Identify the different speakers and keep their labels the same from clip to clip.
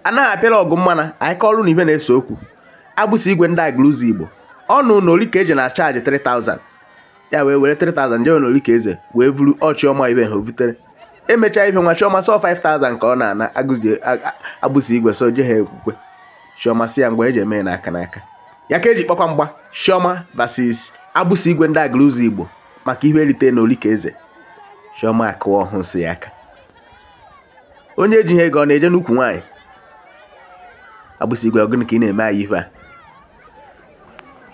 Speaker 1: anaghị apịala ọgụ mmana anyị kọọlụ na ife na-ese okwu agbụsị igwe ndị Aguluzigbo ọ nụ na olike eze na chaji 3000 ya wee were 3000 jewe na olike eze wee vuru chiọma ife ha vutere emechaa ife nwa chiọma sọ 5000 ka ọ na-ana agụzi agbụsị igwe so je ha ekwukwe chiọma si ya ngwa eji eme ya n'aka n'aka ya ka eji kpọkwa mgba chiọma versus agbụsị igwe ndị Aguluzigbo maka ihe erite na olike eze chiọma akụwa ọhụ nsị ya aka onye ejighị ego ọ na-eje n'ukwu nwaanyị agbụsị igwe ọ gụnụ ka ị na-eme anyị ife a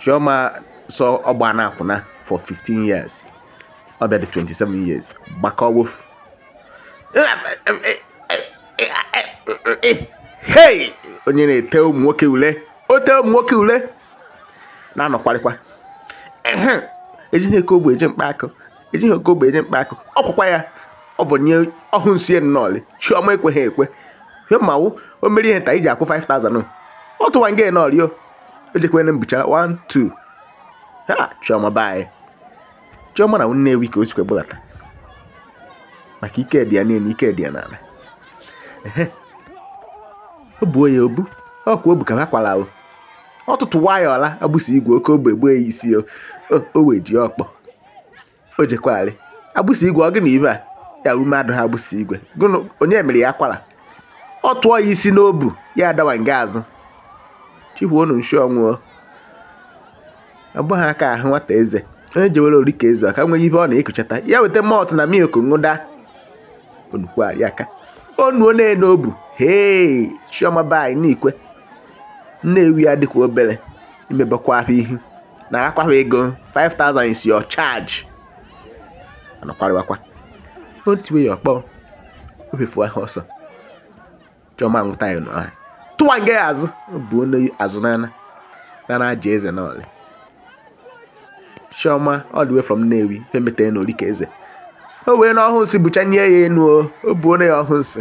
Speaker 1: chioma sọ ọ ba n'akwụna for 15 years ọ bịa dị 27 years gbakọ wofu hey onye na-ete ụmụ nwoke ule o tee ụmụ nwoke ule na-anọkwarịkwa ejighị oke ogbe eje mkpa akụ ejighị oke ogbe eje mkpa akụ ọ kwụkwa ya o bunye ọhụ nsị nnọọlị chiọma ekweghị ekwe ihe mmanwụ o mere ihe nta iji akwụ 5000 ọ tụwa nge nọọlị o ejekwene mbuchara 1 2 ha chiọma be anyị chiọma na nnewi ka o sikwe bụlata maka ike dị ya n'elu ike dị ya n'ala ehe o buo ya obu ọ kwa obu ka ha kwara ahụ ọtụtụ waya ọla agbụsị igwe oke ogbe gbue ya isi o o wee ji ọkpọ o jekwari agbụsị igwe ọ gị na ibe a ya ume adụha agbụsị igwe gụnụ onye mere ya kwara ọ tụọ ya isi n'obu ya adawa nga azụ chihuo unu nshi ọnwụọ abụghị aka ahụ nwata eze onye jewere olike eze ọ ka nwere ife ọ na-ekuchata ya weta malt na milk ṅụda onukwari aka onuo na-ene obu hee chioma be anyị n'ikwe nnewi ya dịkwa obere imebakwa ahụ ihu narakwa ha ego 5000 is your charge anakwarịwakwa o tie ya ọkpọ o fefu ahụ ọsọ chiọma nwụta ya nọ ahụ tụwa nga ya azụ bunye azụ n'ana nana aja eze nọọlị chioma all the way from nnewi pemeta ya n'olike eze o wee na ọhụ nsị buchanye ya enu o o bunye ya ọhụ nsị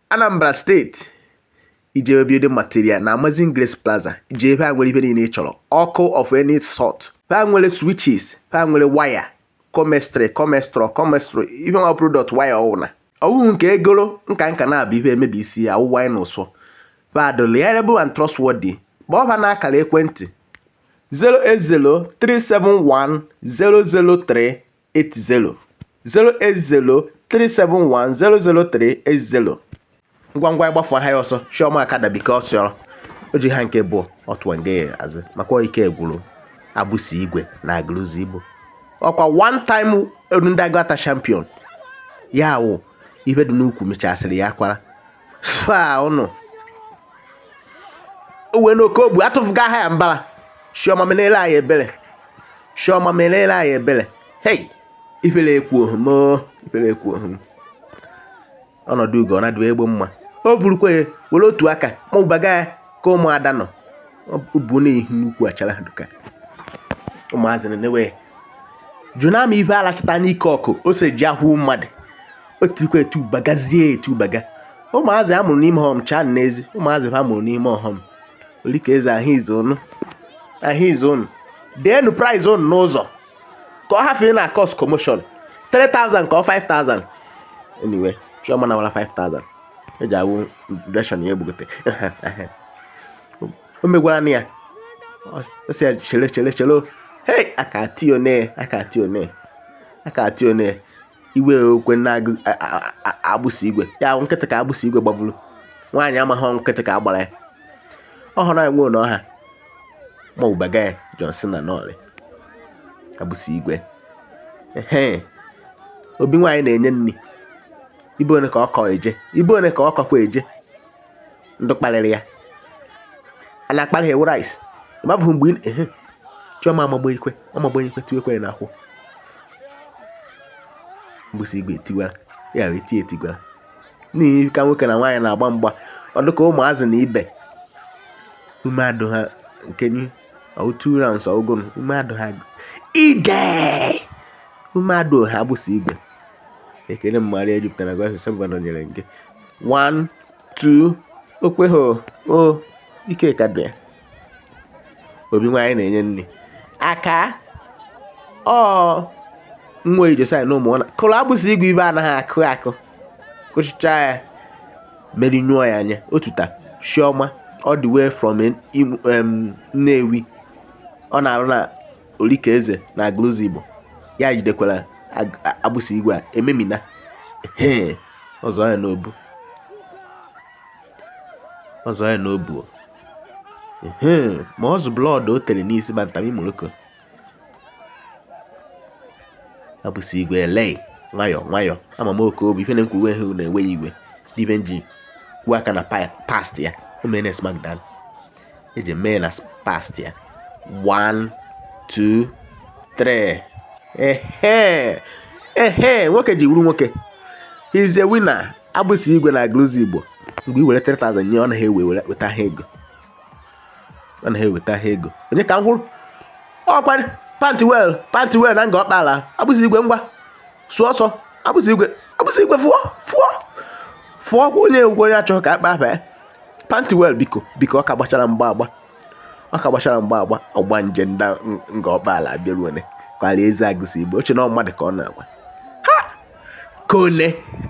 Speaker 1: Anambra steeti ị jebe building material na Amazing Grace Plaza i je ebe a nwere ife niile ị chọrọ ọkụ of any sort ha nwere switches ha nwere waya comestry comestro comestro ife nwa product waya ọwụna ọwụhụ nke egoro nka nka na-abụ ife emebi isi ya awụwa anyị n'ụsọ ha dụ reliable and trustworthy kpọọ ha n'akara ekwentị 080371003 80 08037100380 ngwa ngwa ịgbafu aha ya ọsọ Chioma Akada bike ọsịọrọ o ji ha nke bụ ọtụọ nge azụ maka ike gwụrụ Agbụsị Igwe na Agụlụzigbo ọkwa one time all round Aguata champion ya wụ ihe dị n'ukwu mechasịrị ya kwara fa ụnụ uwe n'oke ogbu atụfuga aha ya mbara Chioma menere anyị ebere Chioma menere anyị ebere hei ifere ekwu ohum ifere ekwu ohum ọnọdụ ugo ọ na-adụ egbe mma o vurukwa ya were otu aka ma ụbaga ya ka ụmụada nọ bụ n'ihu n'ukwu achara duka ụmụazị na-ewe jụna m ibe alachata n'ike ọkụ ose ji ahụ mmadụ o tirikwa etibagazie etibaga ụmụazị a mụrụ n'ime ọhọm chaa n'ezi ụmụazị ha mụrụ n'ime ọhọm Olika Eze ahụ izu ụnụ ahụ izu ụnụ deenu prize ụnụ n'ụzọ ka ọ hafee na cause commotion 3000 ka ọ 5000 anyway Chioma nawara 5000 eji awụ version ya egbugote o megwara na ya ọ sị ya chere chere chere hey aka ati one aka ati one aka ati one iwe okwe na Agbụsị Igwe ya ahụ nkịtị ka Agbụsị Igwe gbagburu nwaanyị amaghị nkịtị ka agbara ya ọ hụrụ anyị nwee n'ọha ma ụbaga ya Johnson na nọọlị Agbụsị Igwe obi nwaanyị na-enye nri ibe one ka ọ kọ eje ibe one ka ọ kọkwa eje ndị kparịrị ya a na-akparị ha ewu rice ịmabụghị mgbe ehe Chioma amagbenyekwe amagbenyekwe tiwekwere na akwụ Agbụsị Igwe tiwara ya wee tie etigwara n'ihi ka nwoke na nwaanyị na-agba mgba ọ dịka ụmụazị na ibe ume adụ ha nke nye two rounds ọ gwụrụ ume adụ ha ibe ume adụ ha Agbụsị Igwe ekele mmadụ ejupụtara gwa asụsụ bụ nọnyere nke one two okwe ha o ike ka dị obi nwaanyị na-enye nri aka ọ nwa ijosai na ụmụ ọ na kụrụ Agbụsị Igwe ibe anaghị akụ akụ kụchicha ya merie nyụọ ya anya otuta Chioma all the way from Nnewi ọ na-arụ na Orika Eze na Agụlụzigbo ya jidekwara Agbụsị Igwe a ememina ọzọ ya n'obu ọzọ ya n'obu ma ọ zụ blood o tere n'isi ma ntami Morocco Agbụsị Igwe elei nwayọ nwayọ ama m oke obi ife na-ekwu uwe hụ na-enweghị igwe d'ibe nji kwuo aka na past ya o mere na eji mee na past ya 1 2 3 ehe ehe nwoke ji wuru nwoke he's a winner agbụsị igwe na Aguluzigbo mgbe i were 3000 nye ọ naghị ewe weta ha ego ọ naghị eweta ha ego onye ka m hụrụ ọkwa Pantiwel Pantiwel na Nga Ọkpala agbụsị igwe ngwa sụọ ọsọ agbụsị igwe agbụsị igwe fụọ fụọ fụọ onye egwukwe onye achọghị ka akpa afa ya Pantiwel biko biko ọ ka gbachara mgba agba ọ ka gbachara mgba agba ọgbanje ndị Nga Ọkpala abịaruone kwara eze agbụsị igwe o che na mmadụ ka ọ na-agwa ha kone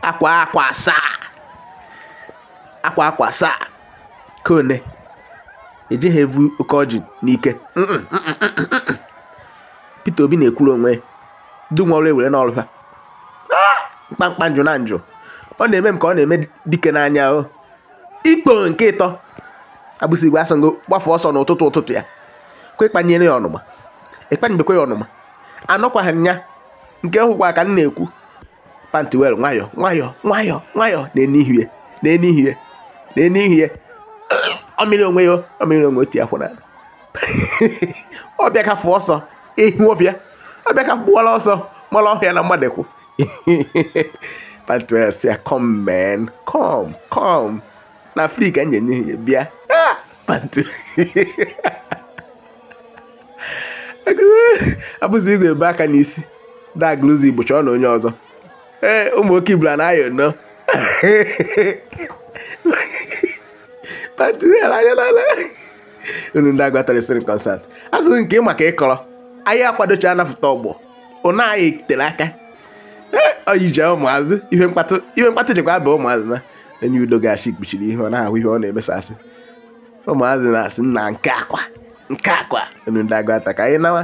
Speaker 1: akwa akwa asaa akwa akwa asaa kone ejighị evu oke ọjị n'ike Peter Obi na-ekwuru onwe ndị nwe ọrụ ewere n'ọrụ ha ah! mkpamkpa njụ na njụ ọ na-eme m ka ọ na-eme dike n'anya o oh. ikpo nke ịtọ agbụsị igwe asọgo gbafe ọsọ n'ụtụtụ ụtụtụ ya kwe kpanyere ya ọnụma ịkpanyebekwa ya ọnụma anọkwaghị nya nke hụkwa ka m na-ekwu Pantiwel nwayọ nwayọ nwayọ nwayọ na-enihie na-enihie na-enihie ọmịrị onwe ya ọmịrị onwe otu ya kwụrụ ala ọbịa ka fụ ọsọ ehi ọbịa ọbịa ka gbụwara ọsọ mara ọhịa na mmadụ kwụ Pantiwel sị ya come man come come na free ka m ga-enye ya bịa ah! Panti agbụsị igwe ebe aka n'isi da Aguluzigbo chọọ na onye ọzọ ee eh, ụmụ oke ibula na-ayọ nọ unu ndị Aguata rịsịrị concert asịrị nke maka ịkọrọ anyị akwadocha anapụta ọgbọ ụna anyị tere aka oyi ji ụmụazị ihe mkpatụ ihe mkpatụ jikwa aba ụmụazị na enye udo gashi kpuchiri ihe ọ na-ahụ ihe ọ na-emesasị ụmụazị na-asị nna nke akwa nke akwa unu ndị Aguata ka anyị nawa